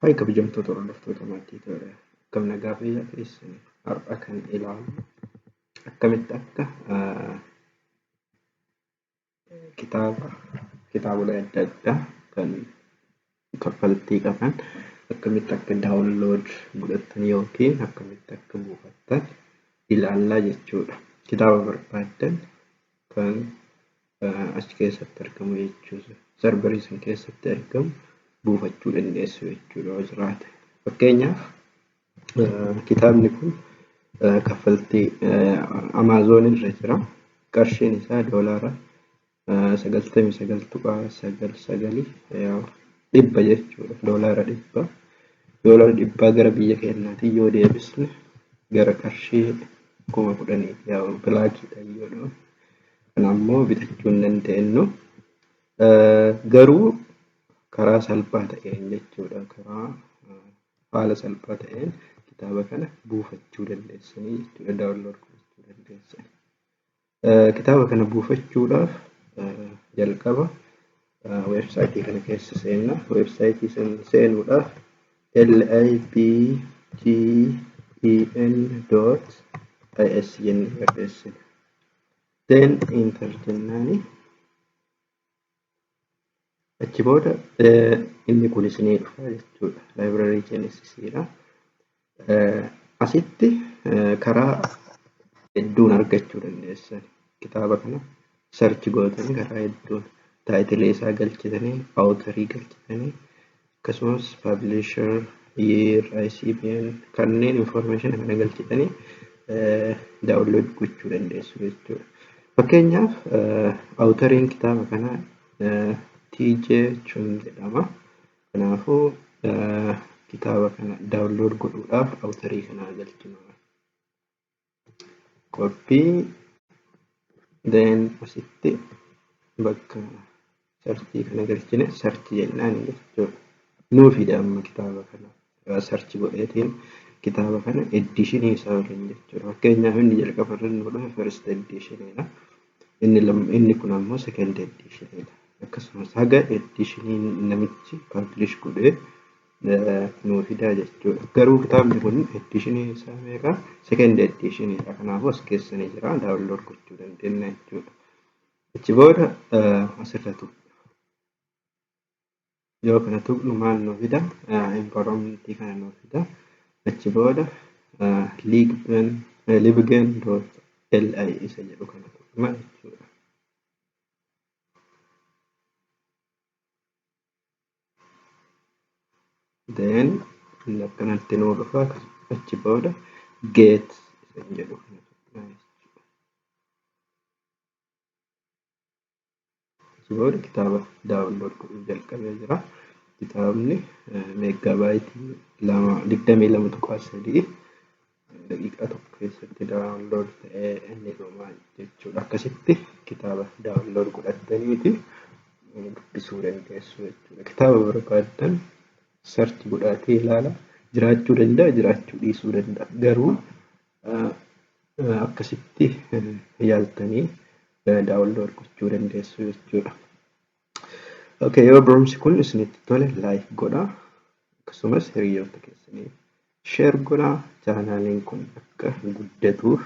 Hayi kabajamtoota hordoftoota maatii tola akkam nagaa fayyaa keessan har'a kan ilaalu akkamitti akka kitaaba kitaabolee adda addaa kan kaffaltii qaban akkamitti akka daawunlood godhattan yookiin akkamitti akka buufattan ilaallaa jechuudha. Kitaaba barbaaddan kan achi keessatti argamu jechuudha. Sarbarii san keessatti argamu buufachuu dandeessu jechuudha yoo jiraate. Fakkeenyaaf kitaabni kun kaffaltii Amaazoon irra jira. Qarshiin isaa doolaara sagaltamii sagal tuqaa sagal sagalii dhibba jechuudha. Doolaara dhibba. Doolaara dhibbaa gara biyya keenyaatiin yoo deebisne gara qarshii kuma kudhanii bilaakiidhaan yoo Kan ammoo bitachuu hin dandeenyu. Garuu karaa salphaa ta'een jechuudha. Karaa haala salphaa ta'een kitaaba kana buufachuu dandeessanii jechuudha. Daawunlood gochuu dandeessan. Kitaaba kana buufachuudhaaf jalqaba weebsaayitii kana keessa seenna. Weebsaayitii sana seenuudhaaf libgen.is jennee barreessina. then enter jennaani achi booda inni kunis ni dhufa jechuudha library genesis dha asitti karaa hedduun argachuu dandeessan kitaaba kana search gootanii karaa hedduun taayitilee isaa galchitanii awutarii galchitanii akkasumas publisher, year, ICBN kanneen information kana galchitanii download gochuu dandeessu jechuudha. Fakkeenyaaf awutariin kitaaba kanaa TJ Chun jedhama. Kanaafuu kitaaba kana download godhuudhaaf awutarii kanaa galchina. copy then asitti bakka sarchii kana galchine sarchi jennaan jechuudha. Nuu fida amma kitaaba kana sarchi godheetiin kitaaba kana eddiishinii isaa waliin jechuudha. Fakkeenyaaf inni jalqaba irra nu dhufe first eddiishiniidha. Inni lam- inni kun ammoo second eddiishiniidha. Akkasumas haga eddiishinii namichi publish godhee nuu fidaa jechuudha. Garuu kitaabni kun ediishinii isaa meeqa? Second ediishiniidha. Kanaafuu as keessa ni jira. Daawunlood gochuu dandeenya jechuudha. Achi booda asirra tuqna. Yoo kana tuqnu maal nuu fida? Environmentii kana nuu fida. Achi booda libgen.li isa jedhu kana tuqna jechuudha. then inni akkanatti nuu dhufa achi booda get isin jedhu kana tuqna jechuudha. Achi booda kitaaba daawunlood godhuu jalqabee jira. Kitaabni meeggaabaayiti lama digdamii lama tuqaa sadii daqiiqaa tokko keessatti daawunlood ta'ee ni dhuma jechuudha. Akkasitti kitaaba daawunlood godhattaniiti dubbisuu dandeessu jechuudha. Kitaaba barbaaddan sarchi godhaatee ilaala. Jiraachuu danda'a, jiraachuu dhiisuu danda'a. Garuu akkasitti yaaltanii daawunlood gochuu dandeessu jechuudha. Okay, yoo barumsi kun isinitti tole like godha akkasumas hiriyoota keessaniif share godha chaanaaliin kun akka guddatuuf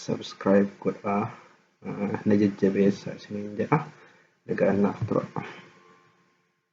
subscribe godha na jajjabeessa isiniin jedha nagaan naaf tura.